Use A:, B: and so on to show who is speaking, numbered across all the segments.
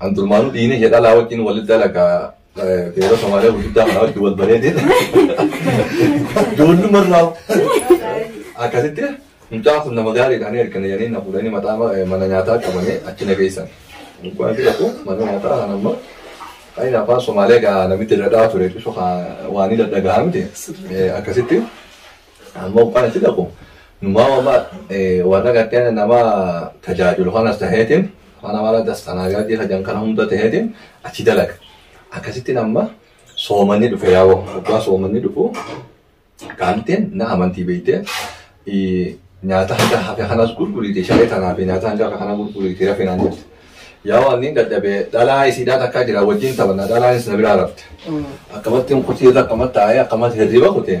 A: An durmaanuu dhiina ishee dhalaa wajjin wal dalaga beera Somaaliyaa gurguddaa kanaa wajjin wal baree deema. Doolluma irraa akkasitti mucaa kun nama gaariidha ani erga jedhanii na fuudhanii mataa mana nyaataa qabanii achi na geessan. Mucaan fi tokko mana nyaataa kan amma Ayin afaan Somaaliyaa gaa namitti dadhaa ture bifa waan inni dadhagahaa miti akkasitti Amma uffana si dhaqu numaa wama warra gartee nama tajaajilu kanas taheetiin mana mara dastanaagaadii kajan kana hunda taheetiin achi dalaga. Akkasittiin amma soomanni dhufe yaa'u waggaa soomanni dhufu kaantiin na amantii beektee nyaata hanga hafe kanas gurguriiti shalee tanaa fi nyaata hanga hafe kana gurguriiti rafe naan jette. Yaa waan inni dadhabee dhalaa isiidhaa takkaa jira wajjin taphanna dhalaanis na biraa rafte. Akkamatti hin kutee akkamatti taa'ee akkamatti hirriba kutee.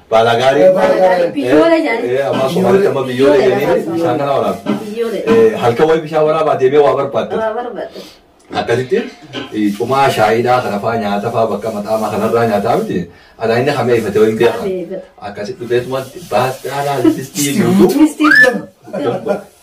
A: Baalaa gaarii. Biyyoola jedhani. Eh, Amma Somaalitti amma biyyoola jedhanii bishaan kana waraabdu. Biyyoola. Eh, Halkan wayii bishaan waraabaa deemee waa barbaadda. Waa barbaadda. akkasitti eh, cumaa shaayiidhaa kana faa nyaata faa bakka maxaamaa kanarraa nyaataa miti alaa inni hamee ifate wayii beeka Hamee ifate. akkasitti dhufeetuma baasxaanaa distii guutuu Distii guutuu.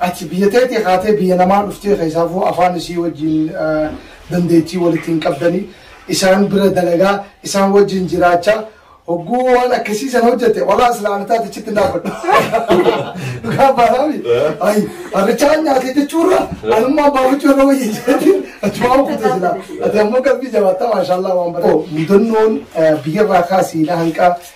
B: Ati biyya teetii kaatee biyya namaa dhuftee keessaafuu afaan isii wajjiin dandeettii walitti hin qabdanii isaan bira dalagaa isaan wajjiin jiraachaa hogguu waan akkasii sana hojjete walaa islaamni taate achitti hin dhaabbadhu. Dhugaa baanaami. Ayi harrichaa nyaatee jechuurra anummaa baafachuu irra wayya jedhanii achumaa kute jira. Ati ammoo qalbii jabaataa maashaallah waan bareedu. Mudannoon biyyarraa kaasii na hanqaa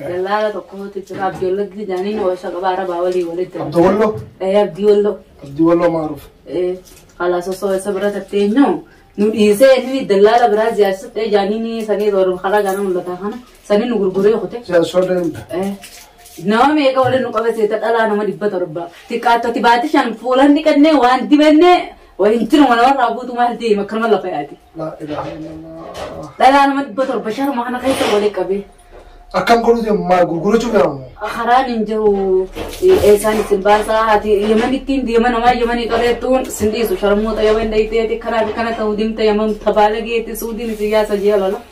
C: Dallaala tokkotu jira Abdiwallatti jedhanii na warshaa qabaa arabaa walii walitti. Abdii Walloo? Ee
B: Abdiwallo.
C: Abdii Walloo maaruuf? Ee
B: kalaas
C: osoo isa bira tattee immoo nu dhiisee inni dallaala biraa jaarsifte jaaniin sanii toora karaa gaana mul'ataa kana sanii nu gurguree kute. Siyaasota deemta.
B: Ee
C: nama meeqa waliin nu qabate dhalaa nama dhibba torba xiqqaattoti baatii shan fuulan dhiqannee waan dibannee waliin jiruma namarraa buutu maal deema akkanuma lafa yaati. Laa ilaaha illallah. Dhalaa
B: nama
C: dhibba torba sharma kana
B: keessa
C: walii qabee. Akkam
B: godhu deemu maal gurgurachuuf yaamu? Karaan hin jiru
C: eessaan isin baasaa haati yamanittiin deema namaa yamanii qabeettuun sin dhiisu sharmoota yaman dayiteeti karaa fi kana ta'u deemta yaman tabaala geetti suudiin isin yaasa jee lola.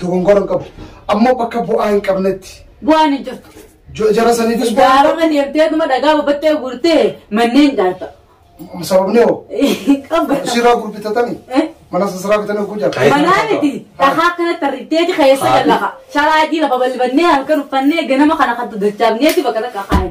B: Dogongora hin qabu. Ammoo bakka bu'aa hin qabnetti. Bu'aan hin jirtu.
C: Jo- Jara saniifis
B: bu'aa hin Gaararra deemtee dhuma
C: dhagaa babattee guurtee manneen ijaarta. qabu. Sababni hoo
B: Qabba. siraa
C: gurbitatanii
B: Eh? mana sasiraa bitanii oguu jala. Kaayee- Manaa miti dhagaa
C: akkanatti tarritteeti keessa Haadhi. lallaqa. Sharaa adii lafa balbannee halkan uffannee ganama kana kan dachaafneeti bakka takka kaa'e.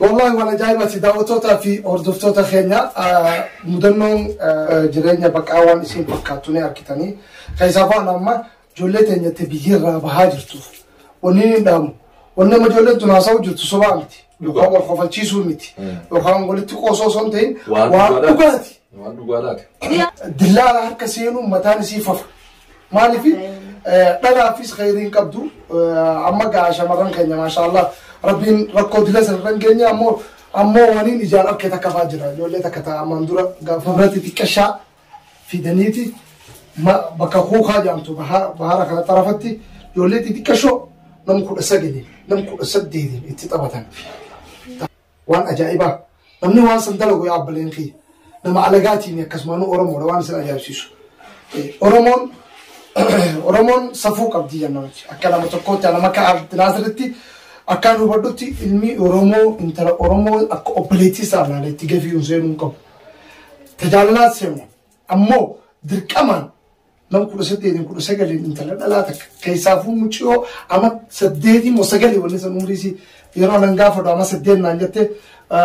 B: Wallahi waan ajaa'ibaati daawwattoota fi hordoftoota keenya mudannoon jireenya baqaa waan isin fakkaattu ni argitanii keessaa ba'an amma ijoollee teenyatti biyyirraa bahaa jirtu wanni hin dhaamu wanni amma ijoolleen tun haasa'u jirtu sobaa miti yookaan wal kofalchiisuu miti yookaan walitti qoosoo osoo hin ta'in waan dhugaati Maal dhugaa laata? Dillaala harka seenuun mataan isii fafa. Maaliif dhalaafis khayriin qabdu amma gaa shamarran keenya maashaallah rabbiin rakkoo dila sanarran keenya ammoo ammoo waniin ijaan arke takka faa jira ijoollee takka ta'a ammaan dura gaafa biratti xiqqashaa fidaniiti bakka kuukaa jaamtu bahara kana xarafatti ijoollee xixiqqashoo nam kudha sagalii nam kudha saddeetiin itti taphatan. waan ajaa'ibaa namni waan san dalagu yaa abbaleen kiyya nama alagaatiin akkasumaanuu oromoodha waan isin ajaa'ibsiisu oromoon oromoon safuu qabdi jennamti akka nama tokkootti nama akka abdinaasiritti akkaan hubadhutti ilmi oromoo intala oromoo akka obboleettii isaa ilaalee itti gafiiruun seenuu hin qabu tajaajilaa seenu ammoo dirqamaan Nama kudha saddeetiin kudha sagaliin intala dhalaa takka keessaafuu muciyoo ama saddeetii moo sagalii wanni san umrii isii yeroo anan gaafadhu ama saddeet naan jette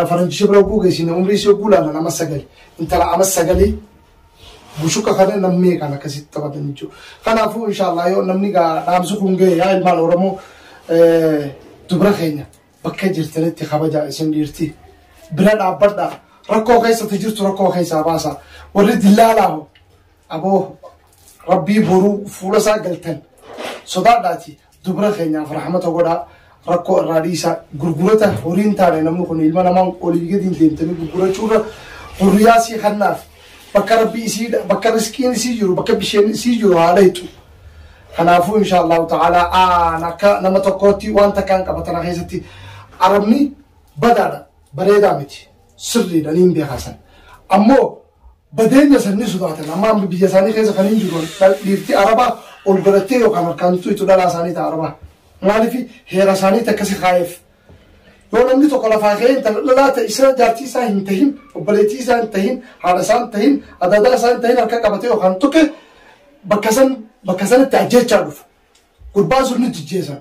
B: faranjisha bira oguu geessine umrii isii oguu laalan ama sagali intala ama sagalii bushuka kana namni kan akkasitti taphatan jechuudha. Kanaafuu inshaallah yoo namni gaa dhaamsu kun ga'e yaa ilmaan Oromoo dubra keenya bakka jirtanitti kabajaa isin dhiirti. Bira dhaabbadha rakkoo keessatti jirtu rakkoo keessaa baasa warri dillaalaa hoo Aboo rabbii boruu fuula isaa galtan sodaadhaati dubra keenyaaf rahmata godhaa rakkoo irraa dhiisaa gurgurata horiin taane namni kun ilma namaa olii gadiin deemtanii gurgurachuurra hurriyaa sii kannaaf bakka rabbii isii bakka riskiin isii jiru bakka bisheen isii jiru haala hitu kanaafuu insha allahu ta'ala aan akka nama tokkootti waan takkaan qabatana keessatti arabni badaadha bareedaa miti sirriidha niin beekaasan ammoo badeenya san ni sodaatan amma amma biyya isaanii keessa kan hin jiru dhal- dhiirti arabaa ol godhattee yookaan harkaan tuitu dhalaa isaanii ta'a arabaa maaliif heera isaaniitti akkasi kaa'eef yoo namni tokko lafaa ka'ee intala dhalaa ta'e isa jaartii isaa hin tahin obboleettii isaa hin tahin haadha isaa hin tahin adaadaa isaa hin tahin harka qabatee yookaan tuqe bakka san bakka sanatti ajjechaa dhufa gurbaan sun ni jijjeessan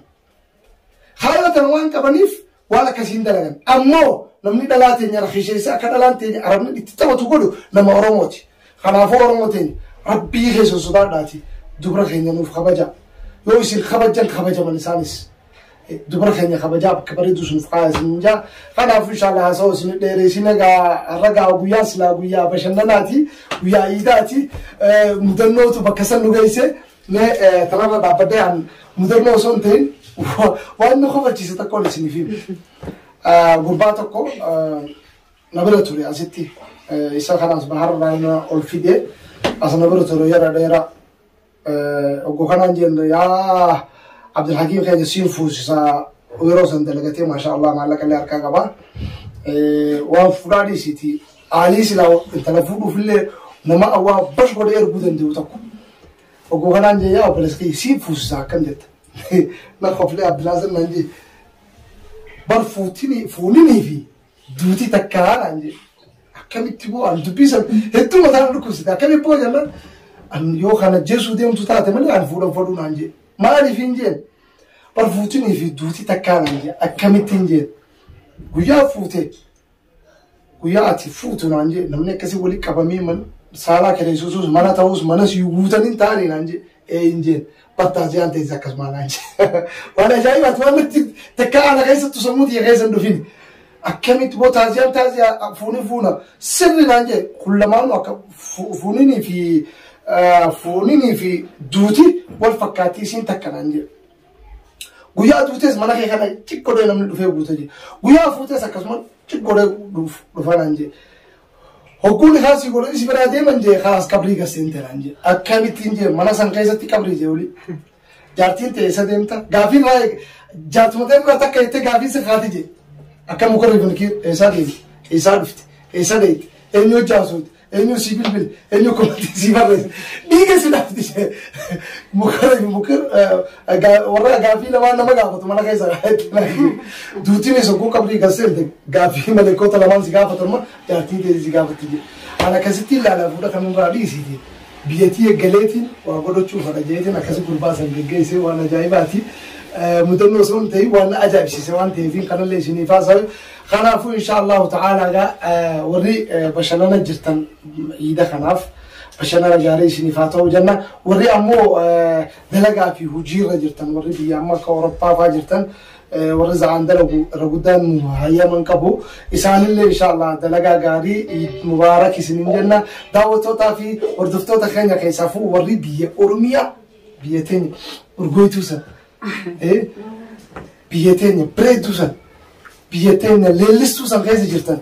B: Haala tan waan qabaniif waan akkasiin dalagan. Ammoo namni dhalaa teenya rakisheessa akka dhalaan teenya arabni itti taphatu godhu nama Oromooti. Kanaafuu Oromoo teenya rabbii keessa sodaadhaati dubra keenya nuuf kabaja. Yoo isin kabajan kabajaman isaanis. Dubra keenya kabajaa bakka bareedu sun fa'aa isin jaa. Kanaafuu inshaallaa haasawaa isin dheereessin egaa ragaa guyyaa silaa guyyaa bashannanaati guyyaa iidaati mudannootu bakka san nu geesse. Mee kanarra dhaabbadhee an mudannoo osoo hin ta'in waan na kofalchiise tokkoon isiniif hime. Gurbaa tokko na bira ture asitti isa kanas baharraa na ol fide as na bira ture yeroo dheeraa oggo kanaan jenne yaa Abdulhakiim keenya siin fuusisa yeroo san dalagatee maashaa Allah maallaqa illee harkaa qaba. Waan fuudhaa dhiisiiti aalii silaa intala fuudhuuf illee nama awwaa bash godhee erguu danda'u tokko. Oguu kanaan jee yaa obboleessa kiyya siif fuusisaa akkam jetta. Na koflee Abdulaaziz naan jee. Bar fuutinii fuuninii fi duutii takkaa naan jee. Akkamitti boo ani dubbii san hedduu mataa na dhukkubsite akkamitti boo jennaan ani yoo kana jeesuu deemtu taate malee ani fuudhan fadhuu naan jee. Maaliif hin jeen? Bar fuutinii fi duutii takkaa naan jee akkamittiin jeen? Guyyaa fuutee Guyyaa ati fuutu naan jee namni akkasii wali qabamee man saalaa kireessuus mana ta'us manas iyyuu guutan hin taane naan jee ee hin jeen battaa jaan ta'es akkasuma naan jee waan ajaa'ibaati waan natti takka ana keessattu sammuu tiyya keessa hin dhufin akkamitti boo taasiyaan taasiyaa fuuni fuuna sirri naan jee kun lamaanu akka fuuninii fi fuuninii fi duuti wal fakkaattii isiin takka naan jee. Guyyaa duutes mana kee kana cik godhee namni dhufee guute jee. Guyyaa fuutes akkasuma cik godhee dhufaa naan jee. Hogguun isaa si godhe si biraa deeman jee kaas qabrii gasseen teeraan jee. Akkamittiin jee mana san keessatti qabrii jee olii. Jaartiin ta'e isa deemta. Gaafiin waa'ee jaartuma ta'e bira takka jettee gaafiin si kaati jee. Akka mukarri kun eessaa deemti eessaa dhufti eessaa deemti eenyu hojjaa suuti Eenyu sii bilbile? Eenyu komantii sii barreesse? Dhiiga si dhaabdi ishee. Mukara fi mukir warra gaaffii lamaan nama gaafatu mana keessa duutiin isa kuu qabdii kan seente gaaffii maleekota lamaan si gaafatan ma jaartiin kee si gaafatti jedhe. Ana akkasitti ilaalaa fuudha kan irraa dhiisiiti. Biyyattii eeggaleetiin waa godhachuuf fadha jeetiin akkasi gurbaa san geggeessee waan ajaa'ibaati. Mudannoo osoo hin ta'in waan ajaa'ibsiise waan ta'eetiin kanallee isiniif haasa'u. Kanaafuu inshaa Allaahu ta'aalaa egaa warri bashannana jirtan iida kanaaf bashannana gaarii isiniif haa ta'u jenna. Warri ammoo dalagaa fi hojiirra jirtan warri biyya amma akka Awurooppaa fa'aa jirtan warri za'aan dalagu irra guddaan nu hayyaman qabu. Isaanillee inshaa Allaah dalagaa gaarii Iid Mubaarak isiniin jenna. Daawwattootaa fi hordoftoota keenya keessaafuu warri biyya Oromiyaa biyya teenya urgooytuu sana. Biyya teenya bareedduu san, biyya teenya leellistuu san keessa jirtan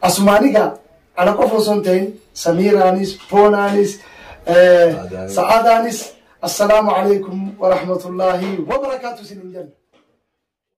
B: asumaan egaa ana qofa osoo hin ta'in Samiiraanis, Boonaanis, Sa'aadaanis assalaamu alaikum wa rahmatullaahi wa barakaatu isin hin jenna.